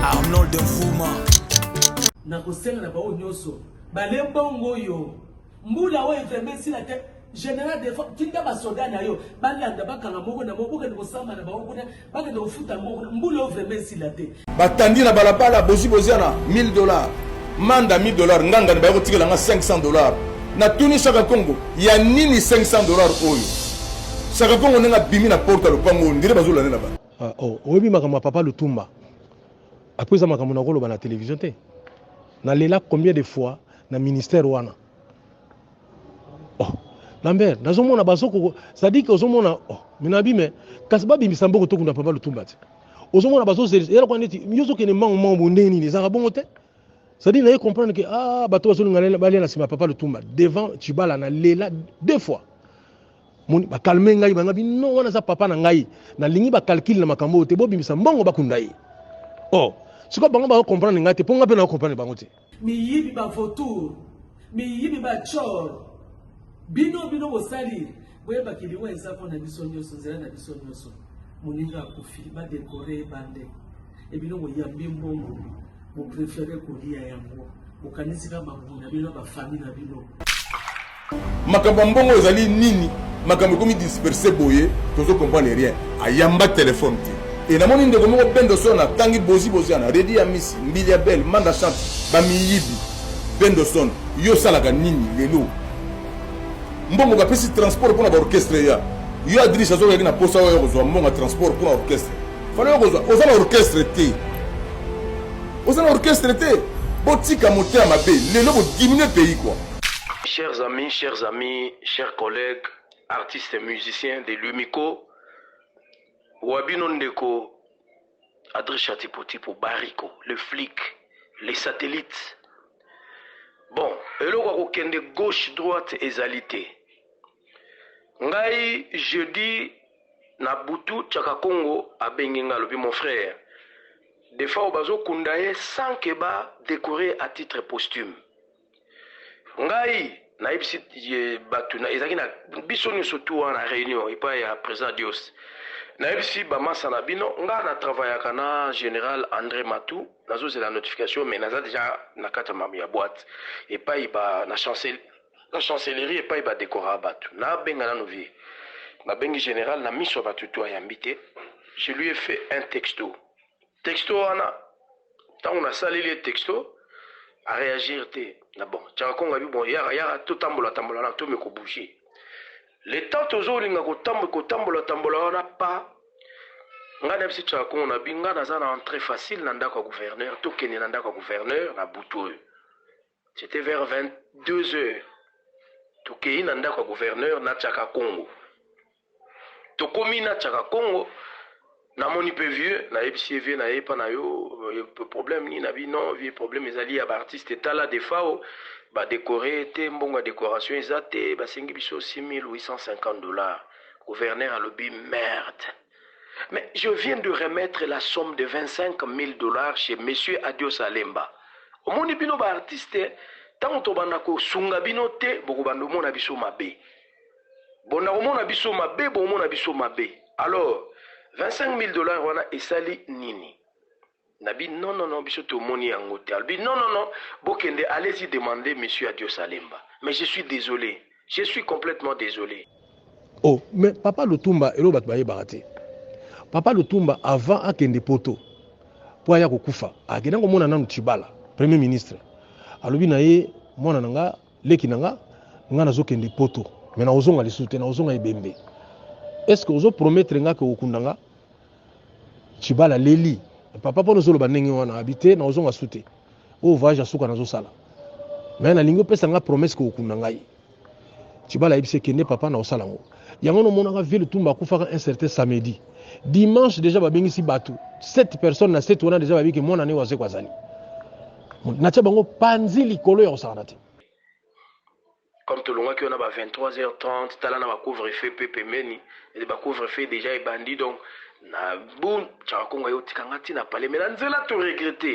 Arnold Nfuma nakosenga na bango nyonso bale mbongo oyo mbula oyo eferme esila te général de tinda basoda na yo balanda bakanga moko na moko bokende kosamba na bango kuna Bakende kofuta mbongo na mbula oyo vraiment esila te. Batandi na balabala bozi boziana 1000 dollars. Manda 1000 dollars nganga ne baye kotikela nga 500 dollars. Na tuni Shaka Kongo ya nini 500 dollars oyo? Shaka Kongo ndenge abimi na porte ya lopango ndire bazolanda na bana. Ah, oh, oyebi makambo ya papa Lutumba apres eza makambo nakoloba na television te nalela combien de fois na ministère wana oh. lambert nazomona bazoko sadiki ozomona oh. minabi me kasi babimisa mboko tokunda papa lutumba te ozomona bazozelisa yalakwa neti yo ozokende mbango mbango bo ndenge nini ezalaka bongo te cestadire naye comprendre ke ah, bato bazolinga balia na nsima papa lutumba devant cibala na lela deux fois moni bakalme ngai bangabi no wana aza papa na ngai nalingi bakalkile na makambo oyo te bobimisa mbongo bakunda ye o oh, sikoyo bango bakokomprendre ngai te mpo ngai mpe nakokomprendre bango te Miyibi ba vautour, miyibi ba tshor. Bino bino bosali boyeba kiliwa eza mpo na biso nyonso, nzela na biso nyonso. Moninga akufi ba dekore ebande e bino boyambi mbongo boprefere kolia yango bokanisika mabumu na bino na bafami na bino. makambo ya mbongo ezali nini makambo ekomi disperse boye tozo comprendre rien ayamba telefone te e namoni ndeko moko bendo so na tangi bozi boziana redi ya misi mbili ya bele manda chante bamiyibi bendoson yo osalaka nini lelo mbongo bapesi transport mpona baorchestre ya yo adrice azokaki na mposa oyo kozwa mbongo ya transport mpona orchestre fana okozwa oza na orchestre te oza na orchestre te botika motema mabe lelo bodiminue pays kua Chers amis, chers amis, chers collègues, artistes musiciens de l'UMICO, Wabino Ndeko, Adri Chatipotipo, Bariko, le flic, les satellites. Bon, eloko ya kokende gauche droite ezali te. Ngai jeudi na butu Chaka Congo abengi ngai alobi mon frère, des fois bazokunda ye sans que ba décorer à titre posthume. ngai nayebisi bato na ezalaki na biso nyonso tu wana na réunion epai ya président dios nayebisi bamasa na bino ngai na travaillaka na général andré matou nazozela notification mais naza déjà na kati ya mamu ya boite epai ba na chancel na chancellerie epai badekora bato nabenga nano vie nabengi général na miso ya bato tu ayambi te je lui ai fait un texto Texto wana tango na saleli ye texto a reagir te na bon chaka konga bi bon yaka yaka to tambola tambola na to me ko bouger le temps tozo linga ko tambola ko tambola tambola wana pa nga na bisi chaka kongo na bi nga naza na entrée facile na ndako ya gouverneur to kende na ndako ya gouverneur na butu oyo C'etait vers 22 heures, tokeyi na ndako ya gouverneur na Chakakongo. Tokomi na Chakakongo, namoni mpe vieux, nayebisi ye vieux naye epa na yo problème nini, abi non vieux problème ezali ya ba artistes, tala Defao ba decorer ye te, mbongo ya decoration eza te, basengi biso 6850 dollars. Gouverneur alobi merde! Mais je viens de remettre la somme de 25.000 dollars chez Monsieur Adios Alemba. Omoni bino ba artiste tango tobanda kosunga bino te bokobanda omona biso mabe. Bonda komona biso mabe bomona biso mabe. Alors 25.000 dollars wana esali nini? Na bi non non non biso to moni yango te alobi non non non bo kende allez y demander monsieur adios alemba mais je suis desole je suis complètement desole. Oh mais papa lutumba eloko batu bayebaka te papa lutumba avant akende poto po aya kokufa akenda komona nanu tshibala premier ministre alobi na ye mwana na nga leki na nga nga nazokende poto mais nakozonga lisusu te nakozonga ebembe est ce que ozo promettre nga ke okunda nga Chibala leli papa mpo nozoloba ndenge wana abi te na ozonga su te oyo voyage ya suka nazosala me nalingi opesa ngai promese kokokunda ngai chibala ayebisi ekende papa na osala yango yango nomonaka ville tumba akufaka un certain samedi dimanche deja babengisi bato 7 personnes na 7 wana deja babiki mwana ne wazeko azali natya bango panzi likolo ya kosakana te Comme tolongwaki wana ba 23 heures 30 tala na ba couvre feu pe pembeni et ba couvre feu dejà ebandi donc na boum Tshawakongo aye otika nga ti na palais mais na nzela to regrette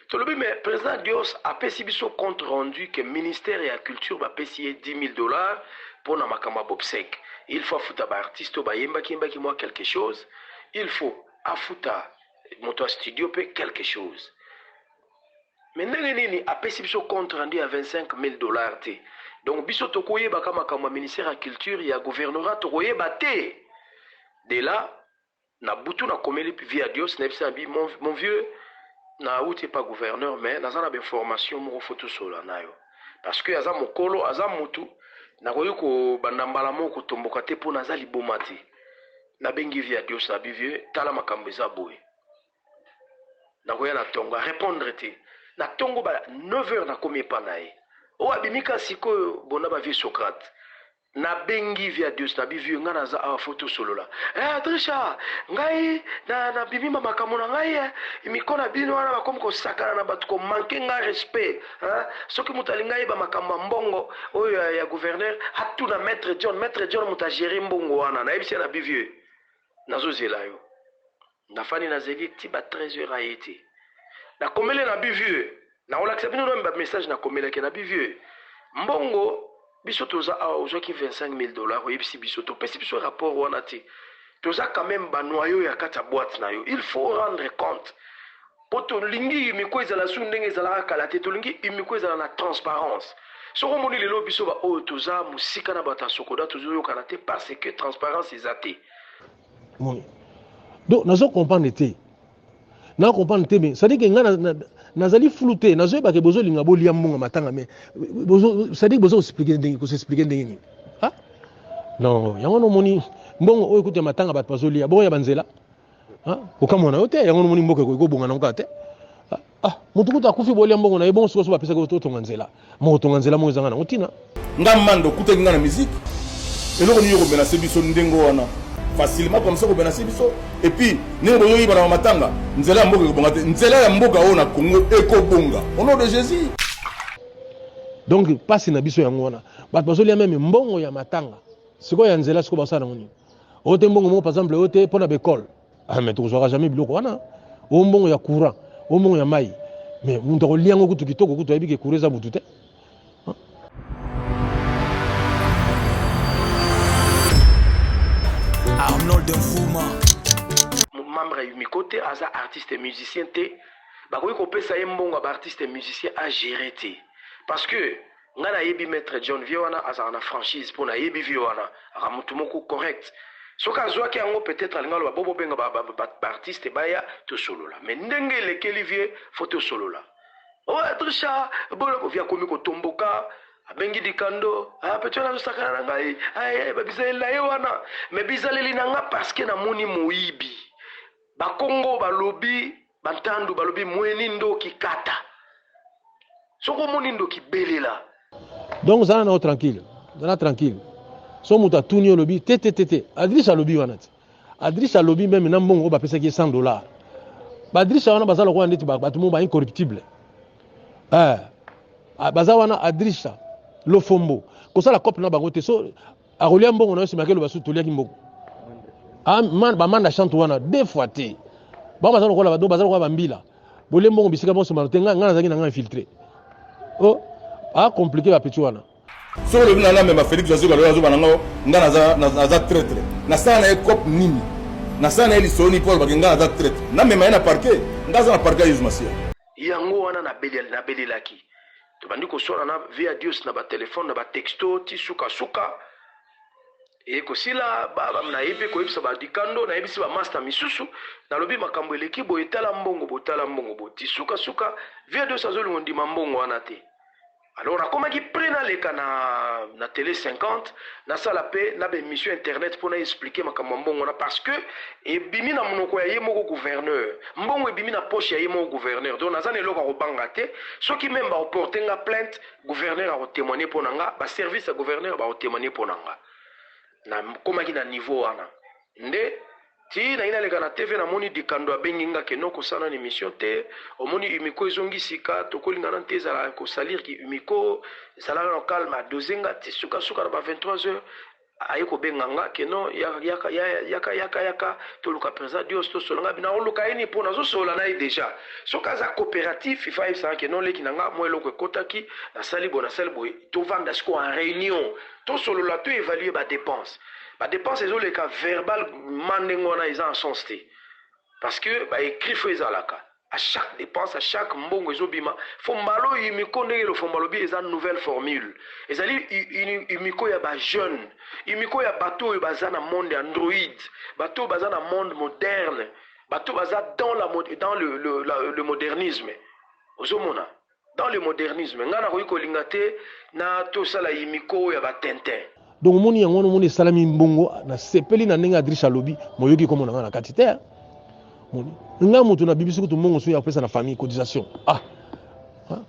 tolobi mais president Dios apesi biso compte rendu que ministère ya culture bapesi ye 10.000 dollars po na makambo ya bobsec il faut afuta ba artistes oyo bayembaki yembaki mwa quelque chose il faut afuta moto ya studio pe quelque chose Mais ndenge nini apesi biso compte rendu ya 25.000 dollars te? Donc biso toko yeba ka makambo ya ministère ya culture ya gouvernorat toko yeba te? De là na butu na komeli Viya Dios na yebisi na bi mon vieux na wuti epa gouverneur mais naza na ba information moko faut tosolola nayo parce que aza mokolo aza mutu nakoki ko banda mbala moko kotomboka te po naza liboma te. Na bengi Viya Dios na bi vieux tala makambo eza boye. nakoya na tongo arepondre te na tongo ba 9 heures nakomi epa na ye oyo abimi ka sikoyo bona ba vieux socrate nabengi viadius na bivieux ngai naza awa fo tosolola eh, adrisha ngai nabimi na makambo na ngai eh, miko na bino wana bakomi kosakana na bato komanke ngai respect eh, soki moto alingi ayeba makambo ya mbongo oyo ya, ya gouverneur atuna maître john maître john moto agere mbongo wana nayebisi ya na bivieux nazozela yo Na fandi na zegi ti ba 13 heures aye te na komeli na bi vieux nako lakisa bino nanu ba message na komelaki na bi vieux mbongo biso toza awa ozwaki 25000 dollars oyebisi biso te opesi biso rapport wana te toza quand meme ba noyaux ya kati ya boite na yo il faut rendre compte po tolingi imiko ezala su ndenge ezalaka kala te tolingi imiko ezala na transparence soki omoni lelo biso ba oyo toza mosika na bato ya sokoda tozoyokana te parce que transparence eza te moni donc nazo comprendre te na comprendre te mais c'est-à-dire que ngai nazali flou te nazoyeba ke bozolinga bolia mbongo matanga mais c'est-à-dire bozo expliquer ndenge ko s'expliquer ndenge nini ah non yango no moni mbongo oyo kutu ya matanga bato bazolia bongo ya banzela ah okamwa na yo te yango no moni mboka ekoki kobonga na ngai te Ah, mutu kutu akufi bolia mbongo na ye bongo sikoyo so bapesaki yo otonga nzela moko tonga nzela moko ezanga nango ntina nga mando okutaki nga na miziki eloko nini okomenase biso ndenge wana facilement comme ça okomenase biso epuis ndenge bozoyibana na matanga nzela ya mboka ekobonga te nzela ya mboka oyo na congo ekobonga au nom de jésus donc mpasi na biso yango wana bato bazolia meme mbongo ya matanga sikoyo ya nzela sikoyo basala nango nini oyo te mbongo moko par exemple oyo te mpo na baekole ah mais tokozwaka jamais biloko wana o mbongo ya courant o mbongo ya mai mais moto akolia yango kutu kitoko kutu ayebi ke courant eza butu te arnold nfuma membre ya umiko te aza artiste musicien te bakoki kopesa ye mbongo ya baartiste musicien agere te parce que Nga na yebi maitre John vieux wana azalaka na franchise po na yebi vieux wana aka mutu moko correct soki azuaki yango peut etre alinga aloba bo bobenga ba ba artiste baya tosolola mais ndenge elekeli vieux faut tosolola oh adricha boloko vieux akomi kotomboka abengi dikando ah petit wana azosakana na ngai aye ba bizaleli na ye wana mais bizaleli na nga parce que namoni moyibi bakongo balobi Bantandu balobi mueni ndoki kata soki omoni ndoki belela. Donc zala nao tranquille, zala tranquille. So moto atuni olobi te te te te. Adrish alobi wana te. Adrish alobi meme na mbongo oyo bapesaki ye 100 dollars. Ba Adrish wana baza lokola ndeti bato mo ba incorruptible. Eh, ah, baza wana Adrish lofombo kosala cope na bango te so akolia mbongo na yo nsima keloba su toliaki mbongo ah, bamanda chante wana deux fois te bango baza lokola bado baza lokola bambila bolie mbongo bisika bonso mano te ngai ngai nazalaki na ngai infiltre o oh, acomplike bapeti wana soki olobi na ngai mema félix azoka loyo azoba na ngai ngai naza traitre nasala na ye cope nini nasala na ye lisolo nini mpo alobaki ngai naza traitre namema ye na parke ngai aza na parke ya yesu masiya yango wana nabelelaki Tobandi koswana na Via Dios na ba telephone na ba texto ti suka suka. Eye kosila ba ba naye mpe koyebisa ba dikando nayebisi ba masta misusu nalobi makambo eleki boye tala mbongo bo tala mbongo bo ti suka suka Via Dios azolinga ondima mbongo wana te. Alors nakomaki pret naleka na na tele 50 Nasala pe na ba emission ya internet po na expliquer makambo ya mbongo wana parce que ebimi na munoko ya ye moko gouverneur. Mbongo ebimi na poche ya ye moko gouverneur donc naza na eloko ya kobanga te. Soki meme bako porter nga plainte, gouverneur ako temoigner pona nga, ba services ya gouverneur bako temoigner pona nga. Nakomaki na niveau wana nde. Ti naye naleka na TV na moni Dikando abengi nga ke noko sala nanu emission te omoni Umiko ezongi sika toko lingana nte ezala ko salir ki Umiko zala nano calme a dose nga ti suka suka na ba 23 heures aye ko benga nga ke no yaka yaka yaka yaka to luka president Dios to solola nga nako luka ye nini po nazo solola naye dejà soki aza cooperatif il faut ayebisa nga ke no leki na nga mua eloko ekotaki na sali boye na sali boye to vanda sikoyo en reunion to solola to evaluer ba depenses Ba depenses ezo leka verbal ma ndenge wana eza en sens te. Parce que ba écrit faut ezalaka. A chaque dépense, a chaque mbongo ezo bima, faut mbalo imiko ndenge lo fomba lobi eza nouvelle formule. Ezali imiko ya ba jeunes, imiko ya bato oyo baza na monde android, bato oyo baza na monde moderne, bato baza dans la dans le, le, le, le modernisme. Ozo mona? Dans le modernisme nga nakoki kolinga te na to sala yimiko oyo ya ba tintin. Donc omoni yango wana omoni esalami mbongo na sepeli na ndenge Adriche alobi moyoki komo na nga na kati te hein? moni nga moto na bibisi kutu mbongo soki ya kopesa na famille cotisation ah hein?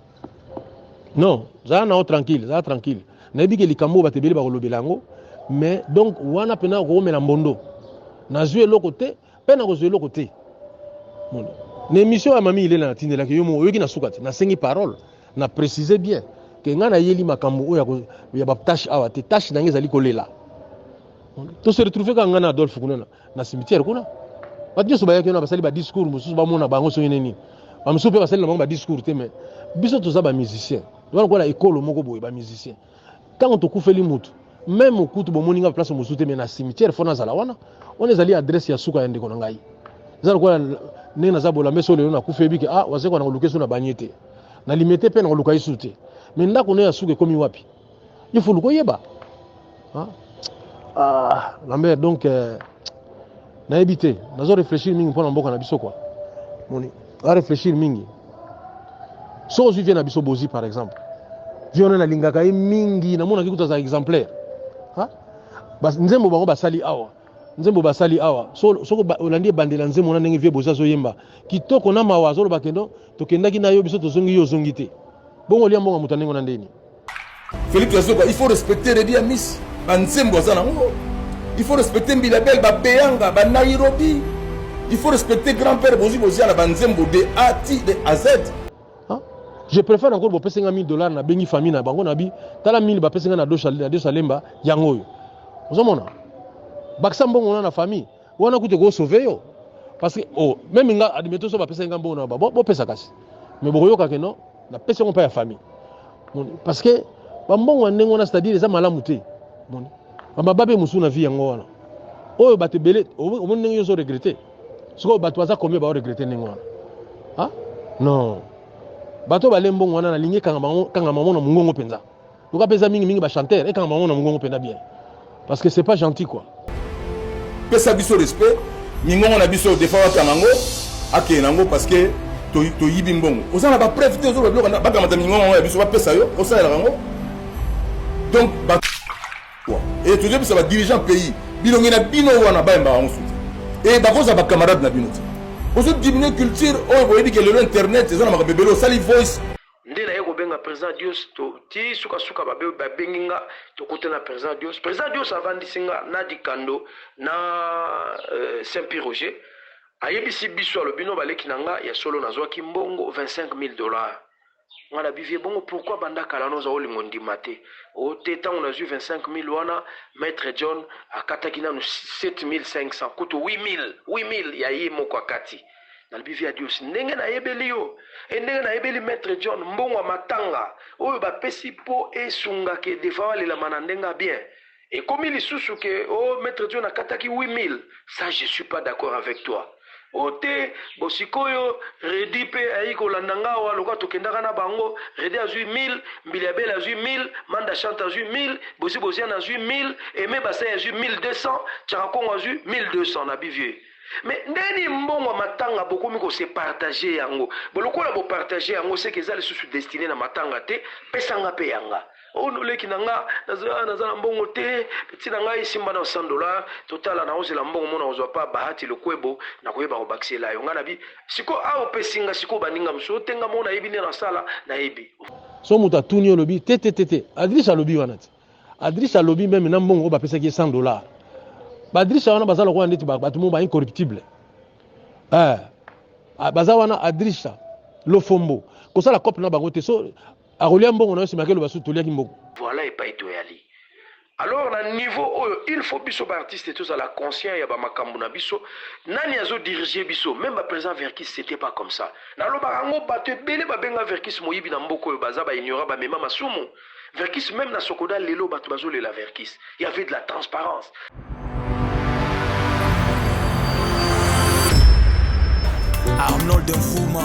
non zala na yo tranquille zala tranquille nayebi ke likambo oyo bato ebele bakolobela yango mais donc wana mpena okokomela mbondo nazwi eloko te Pe na kozwa eloko te. Moni. Na emission ya Mami Ilela na tindelaki yo mo oyoki na suka te. Na sengi parole. Na preciser bien. Ke nga na yeli makambo oyo ya, ko, ya ba tâche awa te. Tâche na nga ezali kolela. To se retrouver kaka nga na Adolphe kuna na, na cimetière kuna. Bato nyonso bayaki wana basali ba discours mosusu bamona bango soki nini. Bamosusu pe basali na bango ba discours te mais biso toza ba musiciens. Wana kola ekolo moko boye ba musiciens. ntango tokufeli motu meme kutu bomoni ngai place mosusu te me na cimetière fo nazala wana wana ezali adresse ya suka ya ndeko na ngai eza lokola ndenge naza bolambe so lelo nakufi yebi ke ah wasekwa nakoluka esu na banie te na limete mpe nakoluka esu te me ndako na ya suka ekomi wapi il faut luka oyeba ah, ah lambert donc euh, nayebi te nazo réfléchir mingi mpo na mboka na biso kwa moni a réfléchir mingi soki ozwi vie na biso bozi par exemple vie wana nalingaka ye mingi namonaki kutu aza exemplaire nzembo bango basali awa nzembo basali awa soki olandi ebandela nzembo na ndenge vie bozi azoyemba kitoko na mawa azoloba kendo tokendaki na yo biso tozongi yo ozongi te bongo olia mbongo moto ya ndenge na ndeni Philippe Yazoka, il faut respecter Reddy Amis. Banzembo aza nango. Il faut respecter Mbilabel, Babeyanga, ba Nairobi. Il faut respecter grand-père Bozi Bozi na banzembo de A ti de A Z. Hein? Je préfère encore bopesa nga 1000 dollars na bengi famille na bango na bi tala 1000 bapesa nga na dosha na dosha lemba yango oyo. Ozomona? Bakisa mbongo na na famille. wana kutu eko sauve yo parce que oh, meme nga admettons so bapesaki nga mbongo na ba bopesa kasi mais bokoyoka ke non napesi yango mpa ya famille moni parce que bambongo ya ndenge wana c'est à dire eza malamu te moni bamaba mpe mosusu na vie yango wana oyo bato ebele omoni ndenge yo ozo regrete sikoyo bato baza combien bao regrete ndenge wana ah non bato bale mbongo wana nalingi kanga bango kanga bango na mongongo mpenza Luka pesa mingi mingi ba chanteur ekanga bango na mungongo penda bien. Parce que c'est pas gentil quoi. Pesa biso respect, mingongo na biso defa wa kanango, ake nango parce que to to yibi mbongo. Oza na ba preuve te ozo ba bloka ba kamata mingongo ya biso ba pesa yo, osa ya kango. Donc ba quoi. Et tu dis que ça va diriger un pays. Bino ngena bino wana ba mba wango soutien. Et ba koza ba camarades na bino. Ozo diminuer culture, oyo boyebi que le internet eza na makambo ebele osali voice nde naye kobenga president dios to ti suka suka babe babengi nga tokuta na president dios president dios avandisi nga na dikando na euh, saint pierre roger ayebisi biso alobi no baleki na nga ya solo nazwaki mbongo 25000 dollars nga na bivie bongo pourkui banda kala noza olingo ndima te o te ntango nazwi 25000 wana maître john akataki nanu 7500 kutu 8000 8000 ya ye moko akati nalobi via dios ndenge nayebeli yo e ndenge nayebeli maitre john mbongo ya matanga oyo bapesi mpo esunga ke defa alelama na ndenge ya bien ekomi lisusu ke o oh, maitre john akataki 8000 ça je suis pas d'accord avec toi o oh, te bo sikoyo redi mpe ayei kolanda nga awa lokola tokendaka na bango redi azwi 1000 mbili ya bele azwi 1000 manda chante azwi 1000 bozi boziana azwi 1000 eme basai azwi 1200 chaka kongo azwi 1200 na bivieux Mais ndeni mbongo ya matanga bokomi ko se partager yango bo lokola bo partager yango seke eza lisusu destine na matanga te pesa nga pe ya nga oh no leki na nga naza ah, naza na mbongo te peti na ngai simba na 100 dollars totala na ozela mbongo mona ozwa pa bahati lokwebo na koyeba ko bakisela yo nga na bi siko a ah, opesi nga siko baninga mosusu otenga mona yebi nde na sala na yebi so moto atuni olobi te te te te adriche alobi wana te Adrisa alobi meme na mbongo oyo bapesaki ye 100 dollars badrisa wana baza lokola ndeti bato moko ba incorruptible eh, baza wana adrisa lofombo kosala cope na bango te so akolia mbongo na yo nsima akeloba su toliaki mbongo voilà epai toyali alors na niveau oyo il faut biso baartiste tozala conscient ya bamakambo na biso nani azodirige biso meme baprésident verkis c'était pas comme ça nalobaka yango bato ebele babenga verkis moyibi na mboka oyo baza baignorant bamema masumu Verkys meme na sokoda lelo batu bazo lela Verkys. Il y avait de la transparence. Arnold Nfuma